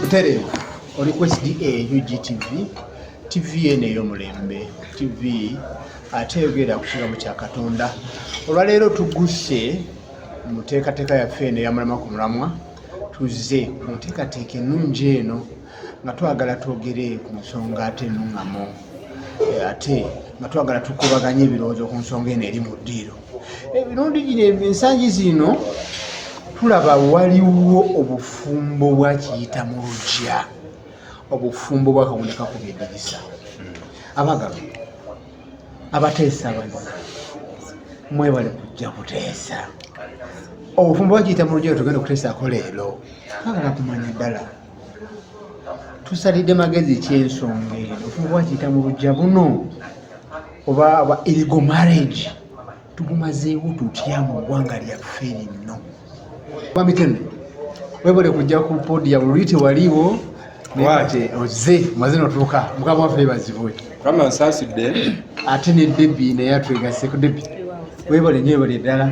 Butere oli ku SDA UGTV TV eno ey'omulembe TV ate eyogera ku kigambo kya Katonda. Olwaleero tugguse mu nteekateeka yaffe eno eyamulama ku mulamwa tuzze mu nteekateeka ennungi eno nga twagala twogere ku nsonga ate enuŋŋamu eh, ate nga twagala tukubaganye ebirowoozo ku nsonga eno eri mu ddiiro emirundi gino ensangi zino tulaba waliwo obufumbo bwakiyita mu lugya obufumbo bwakaboneka ku byedirisa abagaba abateesa baza mwebale kujja kuteesa obufumbo bwakiyita mu lugya tugenda okuteesaako leero twagala kumanya ddala tusalidde magezi ekyensonga eno ofuba wakiyita mu lujja buno oba aba irigo marriage tugumazeewo tutya mu ggwanga lyaffe linno bamitene webale kujja ku podi ya bululi tewaliwo nate oze maze notuuka mukama waffe bazibwe kama nsasidde ate ne debi naye atwegaseko debi webale nyo webale ddala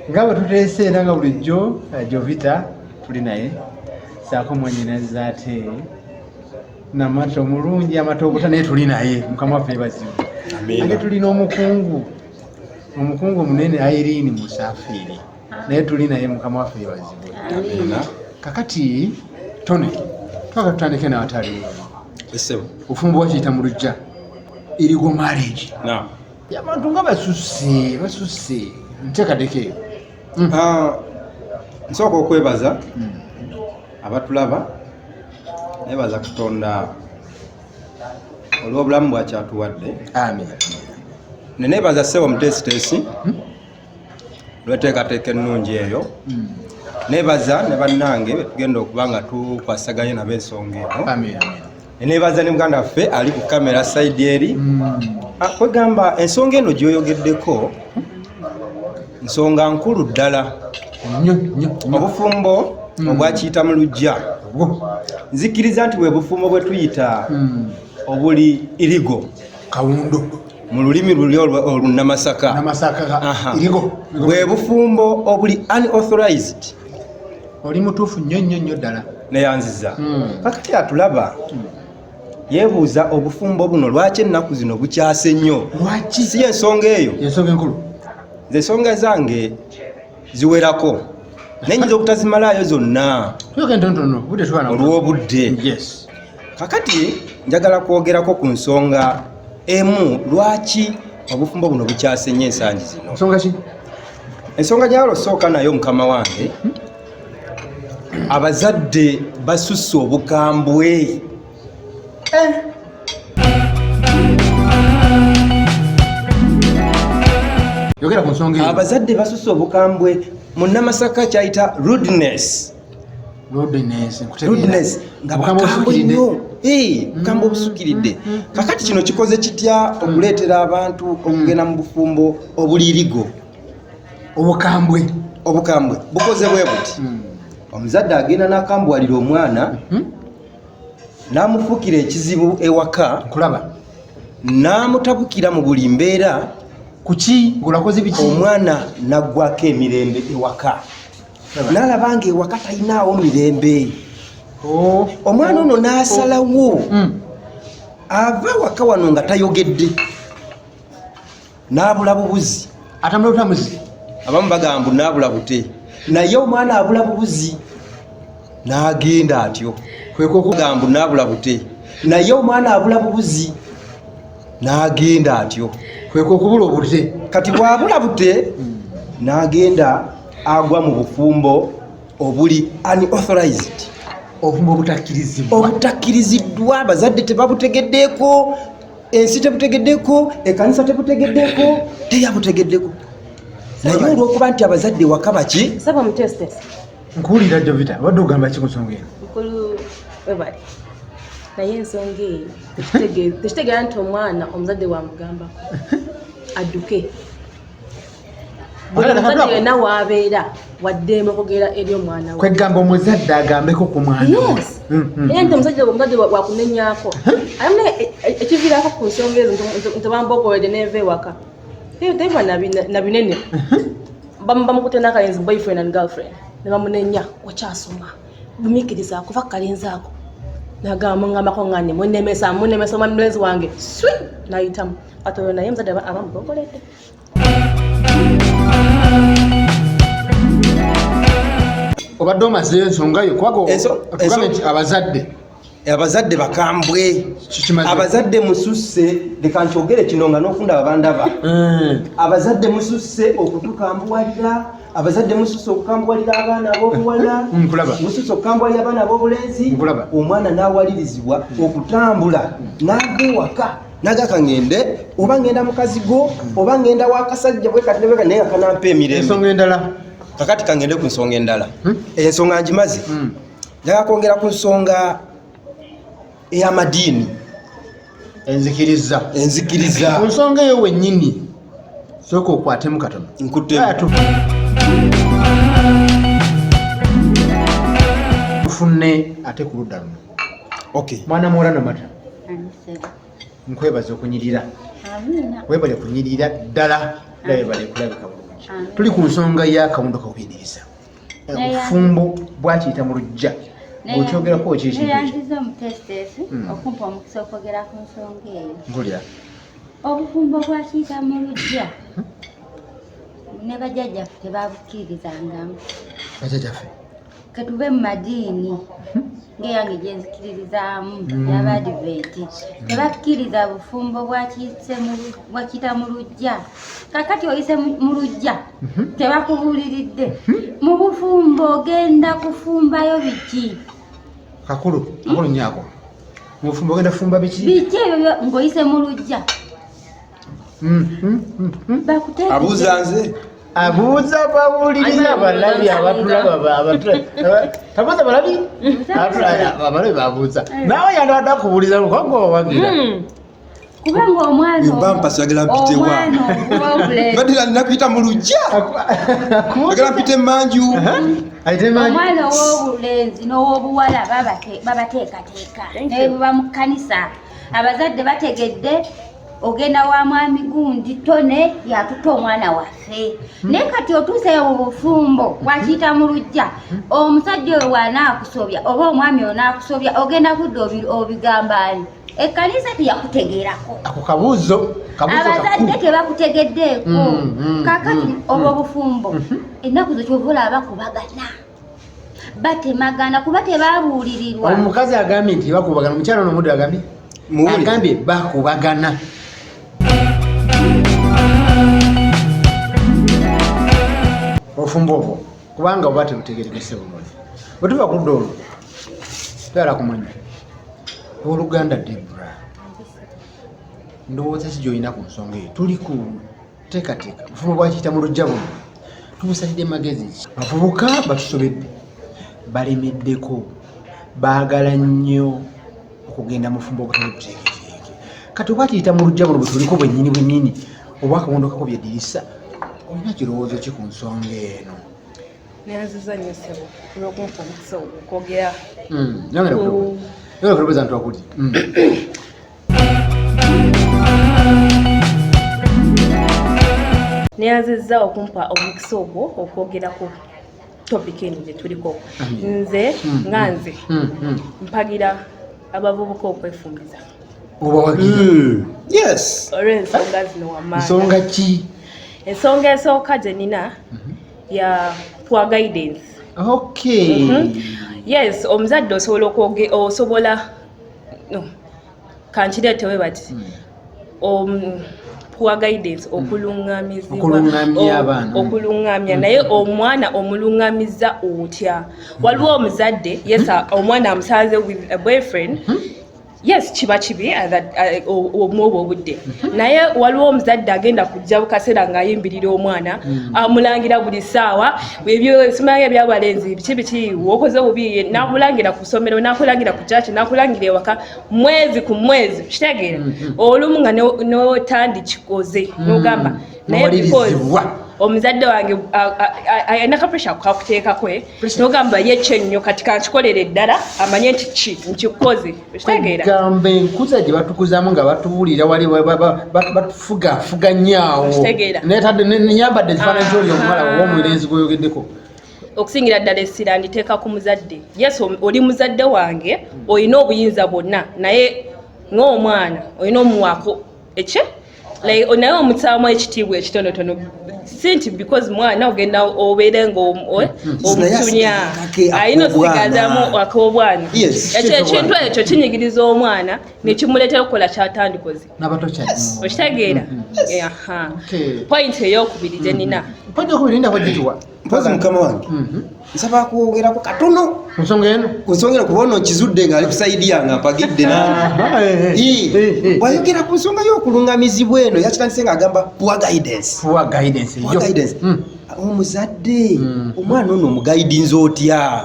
nga bwe tuteese era nga bulijjo eh, jovita tuli naye saako mwanyinazi ate namata omulungi amata obuta naye tuli naye mukama waffe bazibu ate tuli n'omukungu omukungu omunene airini musafiiri naye tuli naye mukama waffe bazibu kakati tone twaka tutandike nawatali ofumba wakiyita mu lujja erigo marriage abantu nga basusse basusse ntekadeko eyo Mm. Ah, nsooka okwebaza mm. abatulaba nebaza katonda olw'obulamu bwakyatuwadde nenebaza ssebo muteesiteesi mm. lweteekateeka ennungi eyo nebaza ne bannange betugenda okuba nga tukwasaganye nabo ensonga eno nebaza ne muganda waffe ali ku kamera saidi eri mm. ah, kwegamba ensonga eno gyoyogeddeko nsonga nkulu ddala obufumbo mm. obwakiyita mu lujja nzikiriza nti bwebufumbo bwe tuyita mm. obuli irigo kawundo mu lulimi luli olunamasaka bwebufumbo obuli unauthorized oli mutuufu nnyo nnyo nnyo ddala neyanziza hmm. kakati atulaba hmm. yebuuza obufumbo buno lwaki ennaku zino bukyase nnyo si ensonga eyo ensonga enkulu nze ensonga zange ziwerako naye nyinza obutazimalaayo zonna olw'obudde kakati njagala kwogerako ku nsonga emu lwaki obufumbo buno bukyasenye ensangi zino ensonga gyalo sooka nayo mukama wange abazadde basusse obukambwe eh. abazadde basusse obukambwe mu namasaka kyayita rudness Rudness nga bakambwe nnyo bukambwe obusukiridde mm, mm, mm, kakati kino kikoze kitya okuleetera abantu okugenda mu bufumbo obulirigo obukambwe obukambwe bukoze bwe buti omuzadde agenda n'akambwalira omwana mm-hmm. n'amufuukira ekizibu ewaka kulaba n'amutabukira mu buli mbeera kuki ngolakoze biki omwana naggwako emirembe ewaka nalaba nga ewaka talinaawo mirembe oh. omwana ono nasalawo hmm. ava waka wano nga tayogedde nabula bubuzi atamulabutamuzi abamu bagamba nabula bute naye omwana abula bubuzi nagenda atyo kwekokugamba nabula bute naye omwana abula bubuzi n'agenda atyo kwekwe okubula obudde kati bwabula budde n'agenda agwa mu bufumbo obuli unauthorized obufumbo obutakkirizibwa obutakkiriziddwa abazadde tebabutegeddeeko ensi tebutegeddeeko ekanisa tebutegeddeeko teyabutegeddeeko naye olwokuba nti abazadde wakabaki nkuwulira jovita obadde ogamba ki ku nsonga eno mukulu webale naye ensonga eyo tekitegeera nti omwana omuzadde wamugambako adduke buli muzadde yena waabeera waddeemu okugera eri omwana we kwegamba omuzadde agambeko ku mwana mm, mm. naye nti omuzadde omuzadde wakunenyako aye ekiviraako ku nsonga ezo nti bambogoede neeva ewaka Hey, they were na binene. Bamba mukute na kayenzi boyfriend and girlfriend. Ne bamunenya okyasoma. Bumikiriza kuva kalenzi ako. Nagamba ngamba ko ngane munemesa munemesa omwami mulenzi wange. Swi nayitamu. Kati oyo naye muzadde abamubongolete. Obadde omazeyo ensonga yo kubaga otugambe nti abazadde abazadde bakambwe abazadde mususse leka nkyogere kino nga nokundaba bandaba mm. abazadde mususse okutukambuwalira abazadde mususse okukambuwalira abaana abobuwala mm, mususse okukambuwalira abaana abobulenzi omwana nawalirizibwa okutambula nava ewaka nagaka ngende oba ngenda mukazi go oba ngenda wakasajja bwekatinebeka naye nga kanampa emirembe kakati kangende ku nsonga endala hmm? ensonga njimazi hmm. njagala kwongera ku nsonga ey'amadiini enzikiriza enzikiriza ku nsonga eyo wennyini sooka okwatemu katono nkuttemu tufunne ate ku ludda luno okay mwana muwala namata nkwebaza okunyirira webale kunyirira ddala era webale kulabika bulungi tuli ku nsonga y'akawundo kakuyigiriza obufumbo bwakiyita mu lujja okyogerako kyekintuyanziza omutesiteesi hmm. okumpa omukisa okwogera ku nsonga eyo mpulira obufumbo bwakiyita mu lujja hmm? ne bajajjaffe tebabukiririzangamu bajajjaffe ketuve mu madiini hmm? ngeyange gyenzikiririzaamu yabadiventi tebakkiriza bufumbo bwakiyita mu lujja kakati oyise mu lujja Mhm. tebakubuuliridde mhm. mu bufumbo ogenda kufumbayo biki kakulu kakulu nyako mu bufumbo ogenda kufumba biki biki ebyo ng'oyise mu lujja mhm, abuuza nze abuuza bawuliriza abalabi abatulaba tabuuza balabi abalabi babuuza naawe yandabadde akubuuliza lukogowagira hmm. kubanga omwana bampa sagala mpite wa badi la nakuyita mu lujja sagala mpite manju omwana ow'obulenzi n'ow'obuwala babateekateeka naye buba mu kkanisa abazadde bategedde ogenda wa mwami gundi tone yatuta omwana waffe hmm. naye kati otuuseyo mu bufumbo hmm. wakiyita mu lujja hmm. omusajja oyo wanaakusobya oba omwami onaakusobya ogenda kudda obigambani ekkanisa teyakutegeerako ako kabuuzo abazadde tebakutegeddeeko mm, mm, kakati mm, obwo obufumbo mhm. ennaku zo kyova olaba bakubagana batemagana kuba tebabuulirirwa omukazi agambye nti bakubagana omukyalo nomuddu agambye agambye bakubagana obufumbo obwo kubanga oba tebutegerekese bulungi bwetuva kudda olwo toyala kumanya oluganda debra ndowooza si gyolina ku nsonga eyo tuli ku teekateeka bufumu bwakiyita mu lujja buno tubusalidde magezi ki bavubuka batusobedde balemeddeko baagala nnyo okugenda mufumbo obutali buteeketeeke kati oba tuyita mu lujja buno bwetuliko bwennyini bwennyini obwakawondokako byedirisa olina kirowoozo ki ku nsonga eno Neyanziza nnyo ssebo olw'okumpa omukisa okwogera. Hmm, Nyange ne kulowooza nti wakuli. Hmm. neyanzizza okumpa omukisa ogwo okwogerako topic eno gye tuliko nze hmm, hmm, nga nze hmm, mpagira abavubuka okwefumbiza olw'ensonga zino wamansonga ki ensonga esooka gye nina mhm. ya poor guidance okay mm -hmm. yes omuzadde osobola okwoge osobola no kankireetewe bati hmm. um, poor guidance hmm. okulungamizibwaokulungamya hmm. naye omwana omulungamiza otya waliwo omuzadde yes omwana amusanze with a boyfriend mm -hmm. yes kiba kibi uh, uh, omwobwo um, obudde mhm. naye waliwo omuzadde agenda kujja bukaseera ng'ayimbirira omwana mm. amulangira buli ssaawa ebyosimaya ebyabalenzi biki biki wokoze obubi nakulangira ku ssomero nakulangira ku kyaki nakulangira ewaka mwezi ku mwezi kitegeera mm-hmm. olumu nga notandi kikoze mm. nogamba nowalirizibwa omuzadde wange alina ka pressure kukakuteekako eh? nogamba ye kyennyo kati kankikolere eddala amanye nti ki nkikoze okitegeeragamba enkuza gye batukuzamu nga batubuulira wali batufugafuga nyaawo nyambadde ekifaananyi ah. kyoli omuwala oba omulenzi gweyogeddeko okusingira ddala essira nditeeka ku muzadde yes oli muzadde wange olina obuyinza bwonna naye ng'omwana olina omuwaako ekye like naye omutaamu ekitiibwa ekitonotono si nti because mwana ogenda obeere ngaomutunya ayina osigazamu akobwana ekyo ekintu ekyo kinyigiriza omwana nekimuleetera okukola kyatandikoze okitegeera mm-hmm. point eyokubiri gyenina mm-hmm. mpozi mukama wange mhm. nsaba kwogerako katono ku nsonga eno ku nsonga eno kuba ono nkizudde ng'ali kusaidi yange ampagidde nangeayogera ku nsonga y'okulungamizibwa eno yakitandise ng'agamba poor guidance hmm. omuzadde hmm. omwana ono omugaidinza otya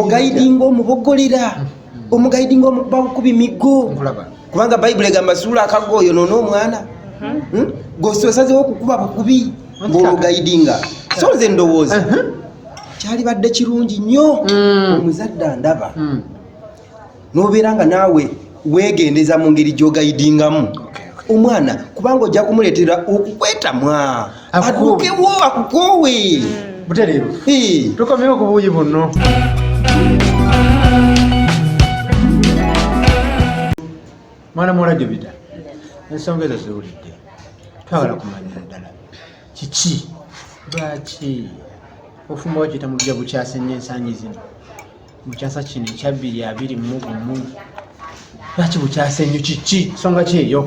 ogaidinga omubogolera hmm. omugaidinga omukubawo ku bimigo kubanga bayibuli egamba suula akago oyo noona omwana hmm? hmm? gososazewo okukuba bukubi ngaolugayidinga so nze ndowooza uh-huh. kyalibadde kirungi nnyo hmm. omuzadde andaba nobeera nga naawe wegendeza mu ngeri gyogayidingamu omwana kubanga ojja kumuleetera okukwetamwa adukewo akukoowe mm. butereevu tukomewo ku buuyi bunno mwana muwala jubita ensonga ezo ziwulidde twagala kumanya ddala kiki lwaki ofumba wakiyita mu bujja bukyase nnyo ensangi zino mu kyasa kino ekyabbiri abiri mu gumu lwaki bukyasa enyo kiki songa kyeyo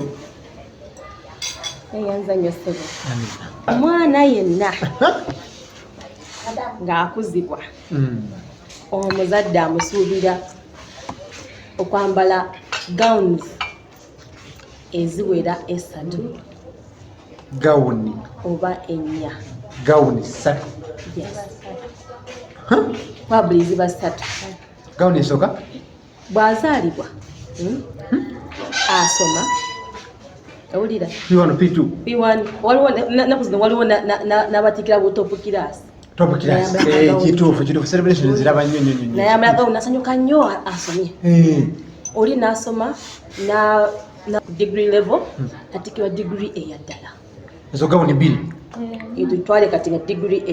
eyanzanyo sebo omwana yenna ng'akuzibwa hmm. omuzadde amusuubira okwambala gowns eziwera esatu gawuni oba ennya gawuni satu wabuli ziba satu gawuni esooka bwazaalibwa hmm? Hmm? asoma owulira p1 p2 p1 waliwo naku zino waliwo n'abatikira butopu kiraasi kituufu kituufu celebration ziraba nnyo nnyo nnyo naye amalaga unasanyuka nnyo asomye eh. oli nasoma na na degree level hmm. kati kiwa degree eya ddala ezo gawuni bbiri itutwale eh. kati nga degree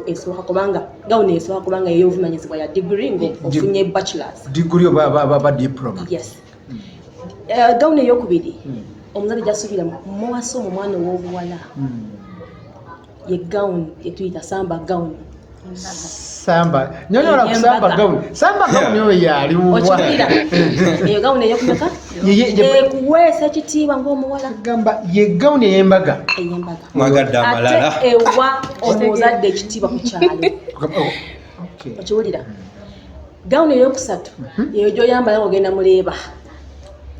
esooka kubanga gawuni esooka kubanga ey'obuvunanyizibwa ya degree ngaofunye bachelors degree oba diploma yes hmm. eh, gawuni eyokubiri hmm. omuzadde gyasuubira muwasa omu omwana ow'obuwala ye gown yetuyita samba gown samba nyonyola ku samba gown samba gown oyo yali wuwa okibira eyo gown eyo kumeka ekuweesa ekitiibwa ng'omuwala gamba ye gown ey'embaga ey'embaga mwagadde amalala ate ewa omuzadde ekitiibwa ku kyalo oh, okiwulira gown eyokusatu mhm. eyo gyoyambala ogenda muleeba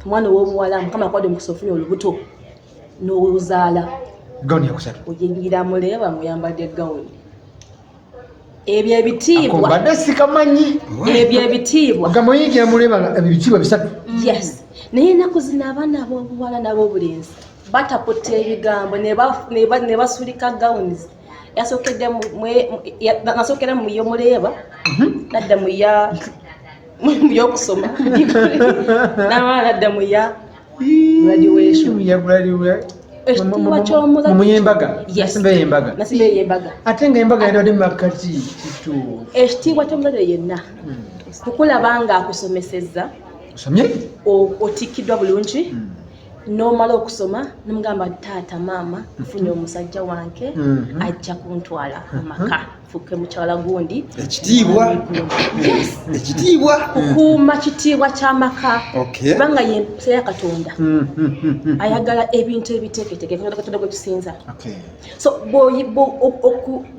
omwana ow'obuwala mukama kwade omukusa ofuna olubuto n'ozaala gawuni yakusatu oyingira muleeba muyambadde gawuni ebyo ebitiibwa badde sikamanyi ebyo ebitiibwa ogamba oyingira muleeba ebitiibwa bisatu yes naye enaku zino abaana abobuwala n'abobulenzi bataputta ebigambo ne basulika gawunis yasokedde nasokedde mu yo muleeba mhm. nadda mu ya mu yokusoma namala nadda mu ya graduation ya graduation ekitiibwa ky'omulabimuyembaga nasimba eyembaga nasimba eyembaga ate nga embaga yadade makkati kitu ekitiibwa ky'omulabire yenna hmm. kukulaba nga akusomesezza osomye otikkidwa bulungi hmm. nomala okusoma nomugamba taata maama nfunye hmm. omusajja wange ajja kuntwala amaka mm -hmm. fuke mukyala gundi ekitiibwa ekitiibwa kukuuma kitiibwa kyamaka kubanga ye empisa ya katonda hmm, hmm, hmm, ayagala ebintu ebiteeketeke katonda gwe tusinza so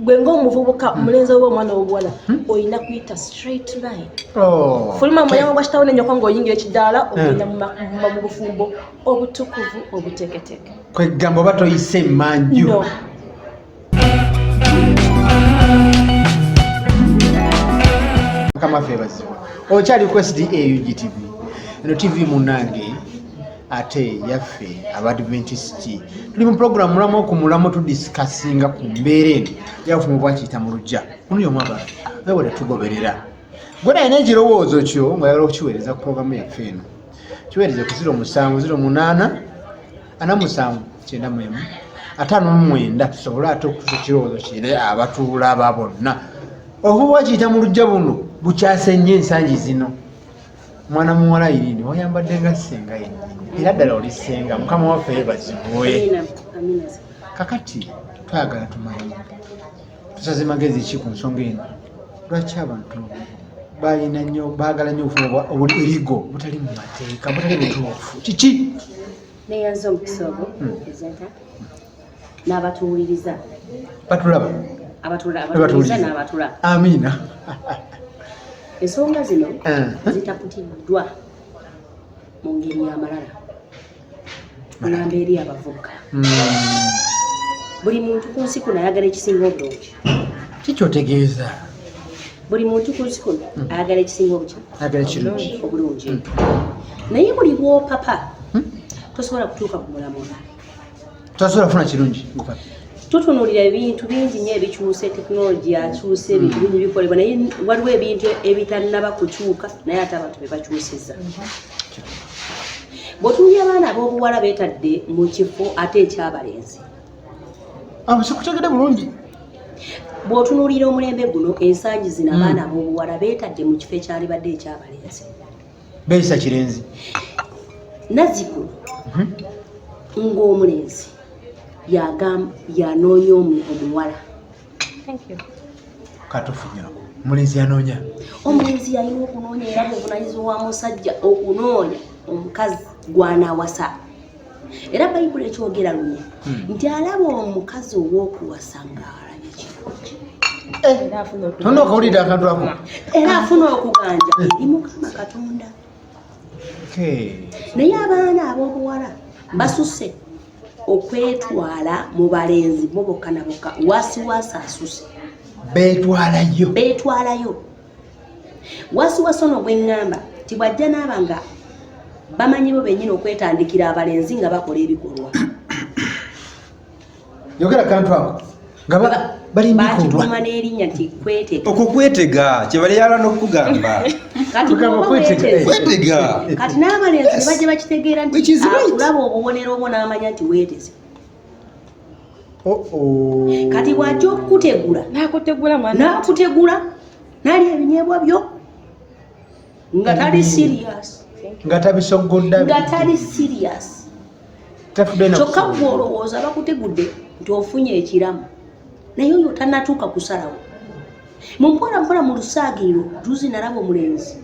gwe ngaomuvubuka omulenzi oba omwana wobuwala olina kuyita straight line oh, fuluma muyango gwa kitawo nenyoko ngaoyingira ekidaala ogenda mu bufumbo obutukuvu obuteeketeke kwegamba oba toyise emanju mukama ffe bazibu okyali ku sda ugtv eno tv munange ate yaffe abadventisiti tuli mu pulogulamu mulamu okumulamu tudisikasinga ku mbeera eno yafuna obwakiyita mu lujja kunuyo omwaba naye bwe tetugoberera gwe nayina ekirowoozo kyo ngaoyagala okukiweereza ku pulogulamu yaffe eno kiweereze ku ziro musanvu ziro munaana ana musanvu kyenda mwemu ataano mumwenda tusobole ate okutusa ekirowoozo kire abatuula aba bonna oba wakiyita mu lujja buno bukyase nnyo ensangi zino mwana muwala irindi wayambadde nga senga yenyini era ddala oli senga mukama waffe yebazibwe kakati twagala tumanye tusaze magezi ki ku nsonga eno lwaki abantu balina nyo baagala nyo obufuna oburigo butali mu mateeka butali butuufu kiki neyanza omukisa ogwo hmm. presenta n'abatuwuliriza batulaba abatulabatuwuliriza n'abatulaba amiina ensonga zino eh. zitakutiddwa mu ngeri y'amalala mulamba eri abavubuka hmm. buli muntu ku nsi kuno ayagala ekisinga obulungi kikyotegeeza buli muntu ku nsi kuno hmm. ayagala ekisinga obulungi hmm. naye buli bwopapa tosobola kutuuka ku mulamula Tasobola funa kirungi ngopaki. Tutunulira ebintu bingi nyo ebikyuse technology akyuse ebintu mm. bingi bikolebwa naye waliwo ebintu ebitanaba kukyuka naye ate abantu bebakyusiza. Bwotunulira abaana abobuwala betadde mu kifo ate ekyabalenzi. Abo sikutegede bulungi. Bwotunulira omulembe guno ensangi zino mm. abaana abobuwala betadde mu kifo ekyalibadde ekyabalenzi. Beesa Kirenzi. Naziku mhm. ng'omulenzi yagamba yanoonya omuwala. Thank you. Katufunyako. Omulenzi yanoonya. Omulenzi yalina okunoonya era bwe bunanyizi wa musajja okunoonya omukazi gw'anaawasa. era bayibuli ekyogera lunya hmm. nti alaba omukazi ow'okuwasa ng'alabye kirungi eh, tona okawulidde akantu ako era afuna okuganja eh. eri mukama katonda naye abaana ab'obuwala basuse okwetwala mu balenzi bo bokka na bokka wasiwasi asuse betwalayo betwalayo wasiwasi ono gweŋŋamba nti bw'ajja n'aba nga bamanyi bo bennyini okwetandikira abalenzi nga bakola ebikolwa yogera kantu ako nga balimbikubwa n'erinnya nti kwetega okwo kwetega kye bali yala n'okugamba kwetega kati n'abalenzi ne bajja bakitegeera nti akulaba obubonero obwo n'amanya nti weeteze kati bwajja okukutegula nakutegula nali ebinyebwa byo nga tali mm. serious nga tabisogodda nga tali serious kyokka gwe olowooza bakutegudde nti ofunye ekiramu naye oyo tanatuuka kusalawo mumpola mpola mu lusaagiro juzi nalaba omulenzi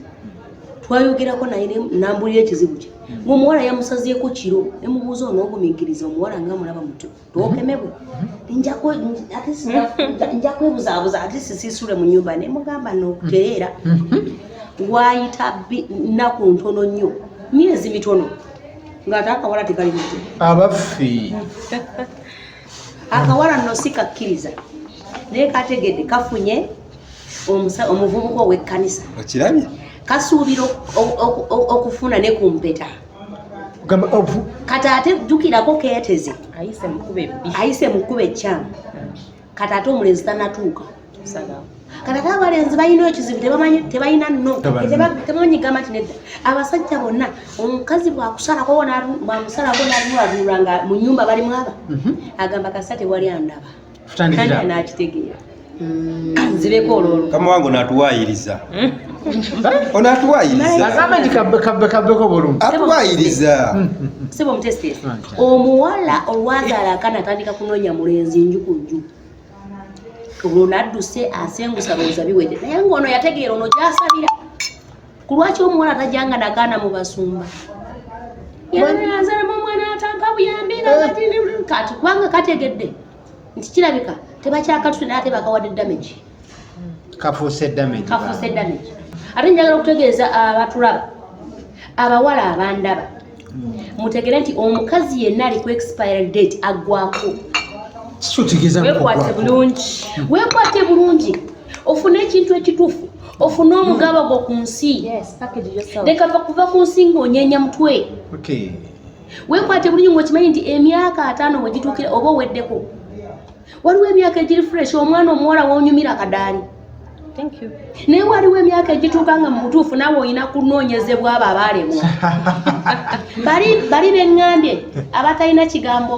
twayogerako naye nambulira ekizibu kye ngaomuwala yamusazeeko kiro nemubuuza onoogumikiriza omuwala nga mulaba muto twokemebwe nja kwebuzaabuza ate sisisule mu nyumba nemugamba nokutereera waayita naku ntono nnyo myezi mitono ngaate akawala tekali muto abaffe akawala nno si kakkiriza naye kategedde kafunye omuvubuka ow'ekkanisa okirabye kasuubira okufuna ne ku mpeta kati ate jjukirako keeteze ayise mu kkuba ekkyamu kati ate omulenzi tanatuuka kati ate abalenzi balina ekizibu tebamanyi tebalina no tebamanyi gamba nti nedda abasajja bonna omukazi bwakusalako bwamusalako nalulalula nga mu nyumba balimu aba mhm. agamba kasa tewali andaba nakitegeera kanzireko mm. olwolu kama wange onatuwayiriza hmm? onatuwayirizaagamba nti kabbeko bulungi atuwayiriza hmm. siba omutesitesi omuwala olwazaala akana atandika kunoonya mulenzi nju ku nju olwo nadduse asengusa lowooza biwede naye ngaono yategeera ono gyasabira ku lwaki omuwala tajanga nagaana mu basumba yanazalamu omwana atanka buyambi kati kubanga kategedde nti kirabika tebakyakatute naye ate bakawadde damage kafuuse damage kafuuse damage ate njagala okutegeeza abatulaba abawala abandaba mutegere nti omukazi yenna ali ku expiry date aggwako wekwate bulungi wekwate bulungi ofune ekintu ekituufu ofune omugaba gwo ku nsi leka kuva ku nsi ng'onyenya mutwe wekwate bulungi ng'okimanyi nti emyaka ataano wegituukira oba oweddeko waliwo emyaka egiri fresh omwana omuwala wonyumira akadaali naye waliwo emyaka egituuka nga mubutuufu nawe olina kunoonyezebwa abo abaalemwa bali beŋŋambye abatalina kigambo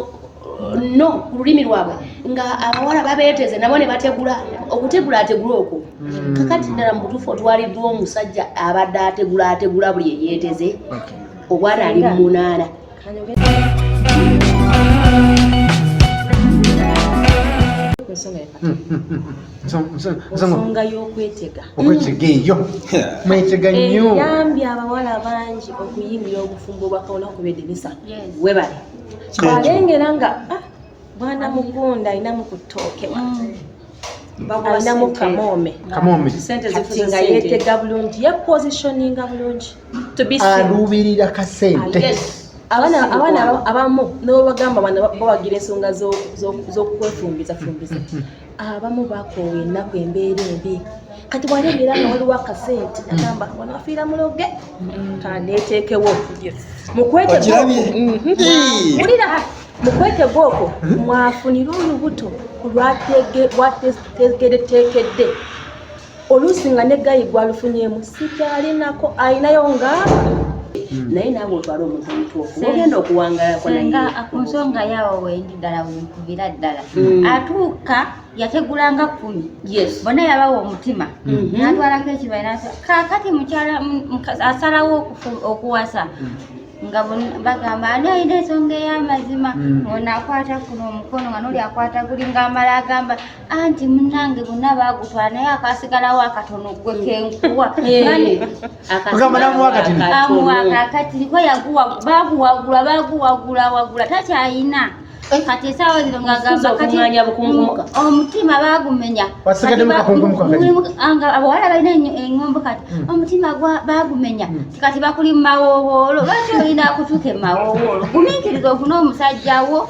no ku lulimi lwabwe nga abawala babeeteze nabo ne bategula okutegula ategula okwo hmm. kakati ddala mubutuufu otwaliddwa omusajja abadde ategula ategula buli eyeeteze obwana ali mu munaana ensonga y'okwetega okwetega eyo mwetega nnyo eyambye abawala bangi okuyingira obufumbo bwakawona kubedinisa webale alengera nga ah, Bwana mugunda alina mu ku ttooke mm. alinamu kamoome kati nga yeetega bulungi yepositioninga bulungi aluubirira kasente abaana abamu nobagamba bawagira ensonga z'okwefumbiza fumbiza abamu bakoowa ennaku embeera embi kati bwali ebeera nga waliwo akasente agamba wanafiira muloge tandeeteekewo mukweteulira mukwetega okwo mwafunire olubuto lwategereteekedde oluusi nga ne gayi gwalufunyemu sikyalinako alinayo nga Hmm. naye naawe otwala omuntu omutuufu ogenda okuwangalako nayenga ku nsonga yaawo wendi ddala wenkubira ddala hmm. atuuka yategulanga kumi bona yabawa omutima hmm. natwalako ekibaira kakati mukyala asalawo okuwasa nga bagamba ani alina ensonga ey'amazima onakwata kuno omukono nga noli akwata guli nga amala agamba anti munange bonna baagutwala naye akasigalawo akatono gwe kenkuwa akamuwakakatiriko yaguwa baaguwagula baaguwagula wagula takyayina kati esaawa zino ngagamba kati omutima bagumenya abawala balina engombo kati hmm. omutima bagumenya hmm. kati bakuli mumawowoolo lwaki olina kutuuka emawowoolo gumiikiriza ofuna omusajjawo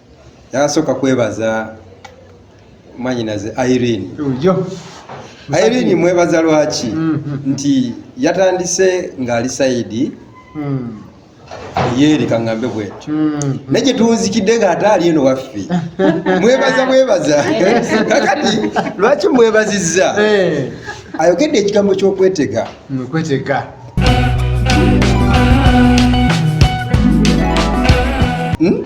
Yasooka kwebaza mwanyinaze Irene. Ujo. Irene mwebaza lwaki mm -hmm. nti yatandise ng'ali sayidi mm. yeeri kaŋŋambe bwetyo mm -hmm. naye gye tuwunzikidde ng'ate ali eno waffe mwebaza mwebaza kakati lwaki mwebazizza hey. Eh. ayogedde ekigambo ky'okwetega okwetega mm -hmm. hmm?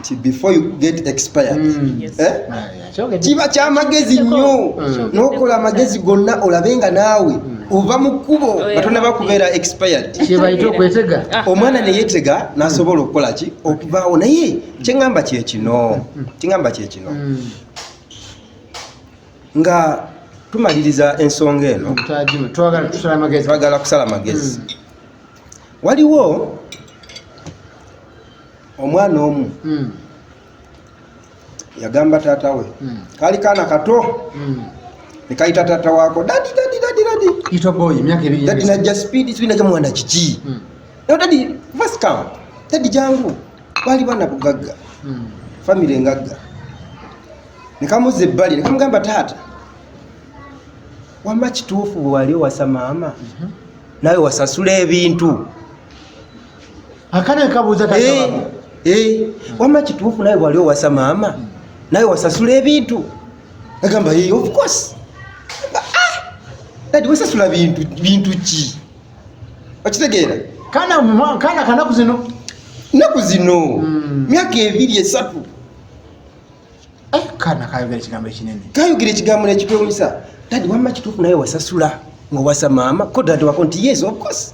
nti before you get expired mm. eh? ah, kiba kyamagezi nnyo mm. nokola amagezi gonna olabe nga naawe mm. ova mu kkubo oh, nga tonaba kubeera expired ah. omwana neyetega nasobola okukola ki okuvaawo naye kyeŋamba kyekino kiŋamba kyekino nga tumaliriza ensonga eno twagala kusala magezi waliwo omwana omu mm. yagamba taata we mm. kaali kaana kato mm. nekayita taata waako dadi dadi dadi dadi ito boy emyaka ebiri dadi najja speed speed najja mwana kiki mm. no dadi first come dadi jangu baali bana bugagga mm. family ngagga nekamuza ebbali nekamugamba taata wama kituufu bwewali owasa maama mm -hmm. nawe wasasula ebintu akana kabuuza kati eh, eh. wama kituufu naye wali owasa maama naye wasasula ebintu agamba hey, eh, of course dadi ah! wasasula bintu bintu ki okitegeera kana kana kanaku zino naku zino hmm. myaka ebiri esatu Eh, kana kayogera ekigambo ekinene kayogera ekigambo nekitwewunyisa dadi wamma kituufu naye wasasula ngowasa maama ko dadi wako nti yes of course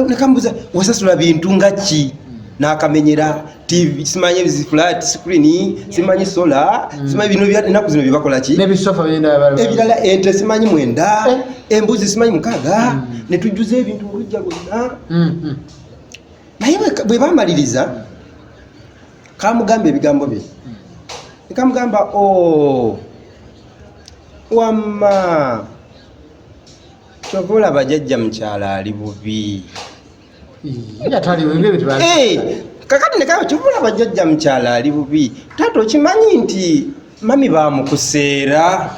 nakambuza wasasula bintu nga ki nakamenyera tv simanyi flat screen simanyi sola mm. simanyi bino enaku zino byebakola ki ebirala ente simanyi mwenda eh. embuzi simanyi mukaaga mm. netujjuza ebintu olujja lwonna mm, naye bwebamaliriza kamugamba ebigambo bye kamugamba o oh, wamma kyova olaba jajja mukyala ali bubi kakati nekaba kyova olaba jajja mukyala ali bubi taata okimanyi nti mami bamukuseera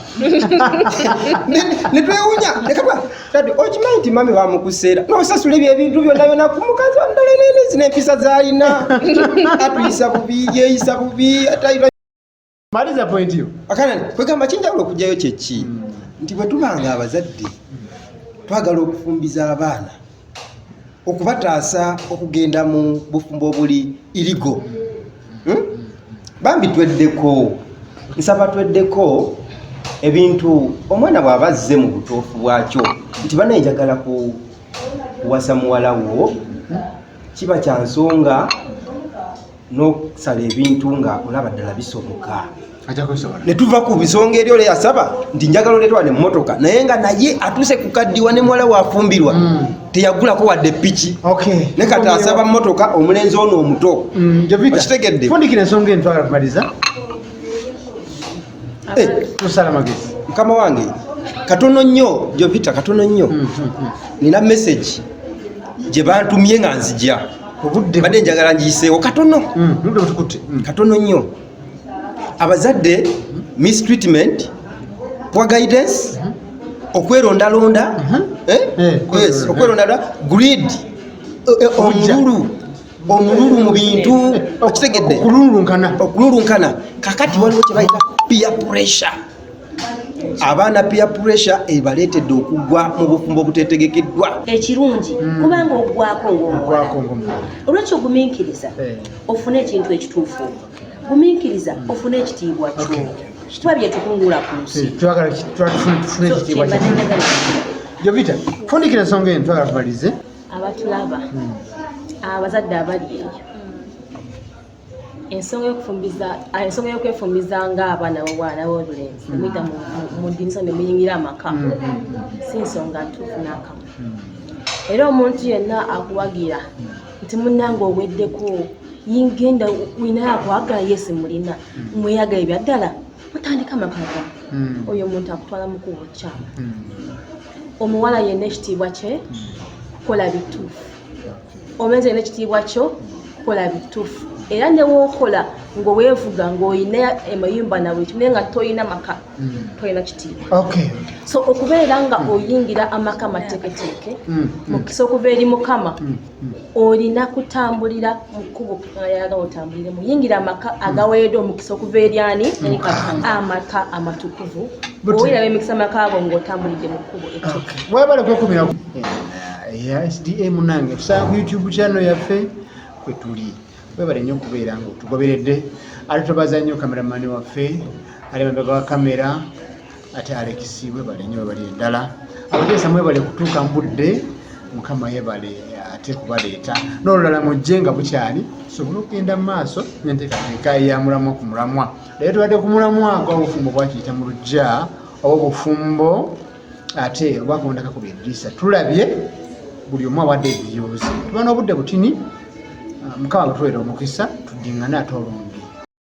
netwewunya nekaba tati okimanyi nti mami bamukuseera nosasula ebyo ebintu byonna byona ku mukazi wandala nene zina empisa zalina atuyisa bubi yeyisa bubi atayira maliza point yo akana kwegamba kinjawulo okugyayo kyeki hmm. nti bwetubanga abazadde twagala okufumbiza abaana okubataasa okugenda mu bufumbo obuli irigo hmm? bambi tweddeko nsaba tweddeko ebintu omwana bw'aba azze mu butuufu bwakyo nti bana enjagala ku kuwasa muwala wo kiba kya nsonga n'okusala ebintu nga olaba ddala bisoboka netuva ku bisonga eri ole yasaba nti njagala oletwa ne mmotoka naye nga naye atuuse ku kaddiwa ne muwala wafumbirwa mm. teyagulako wadde piki ne kati asaba mmotoka omulenzi ono omuto mm, okitegedde Eh, tusala magezi mukama wange katono nnyo gyovita katono nnyo hmm, hmm, hmm. nina message gye bantumye nga nzija badde njagala ngiyiseewo katono katono nnyo abazadde mistreatment poor guidance okwerondalonda eh? Eh, okwerondalonda greed omululu omululu mu bintu okitegedde okululunkana okululunkana kakati waliwo kyebayita pia pressure abaana pia pressure ebaleetedde okugwa mu bufumbo obutetegekeddwa ekirungi hmm. kubanga ogwako ngaomwako olwekyo ogumiikiriza eh. ofune ekintu ekituufu gumiikiriza ofune ekitiibwa kyo kituba byetukungula ku nsi eh, jovita fundikira ensonga eno twagala tubalize abatulaba hmm. abazadde abali eyo ensonga yokufumbiza ah, ensonga yokwefumbiza nga abaana bobwana bobulenzi nemuyita hmm. mudinisa nemuyingira amaka hmm. si nsonga ntuufu nakamu era omuntu yenna akuwagira nti munange oweddeko yingenda winayo akwagala yesi mulina mweyaga ebyaddala mutandika amaka ga oyo omuntu akutwala mukubo kyama omuwala yenna ekitiibwa kye kola bituufu omulenzi yenna ekitiibwa kyo kola bituufu era newokola nga wevuga ngaolina emayumba nawe ekimye nga tolina maka hmm. tolina kitiibwa so okubeera nga oyingira amaka amateeketeeke hmm. mukisa okuva eri mukama olina kutambulira mu kkubo ayagala otambuliremu yingira amaka agaweereddwa omukisa okuva eri ani amaka amatukuvu owiraba emikisa amaka ago ng'otambulidde mu kkubo ettuka webale kwekumira sda munange tusanga ku youtube kyano yaffe kwe tuli webale nnyo okubeera nga otugoberedde ate tobaza nnyo kameramani waffe ali mabega wa kamera ate alekisi webale nyo webale endala abateesa mwebale kutuuka mbudde mukama yebale ate kubaleeta n'olulala mujje nga bukyali tusobole okugenda mu maaso nenteekateeka ya mulamwa ku mulamwa naye tubadde ku mulamwa gwabufumbo bwakiyita mu lujja oba obufumbo ate obwakubondaka ku byeddiisa tulabye buli omu awadde ebiyoozi tuba n'obudde butini mukama bwetuweera omukisa tuddingane ate olungi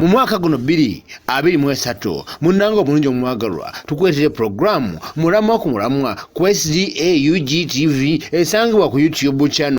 mu mwaka guno bbiri abiri mu esatu munnanga omulungi omwagalwa tukuleetera pulogulaamu mulamwa ku mulamwa ku sda ug tv esangibwa ku youtube channel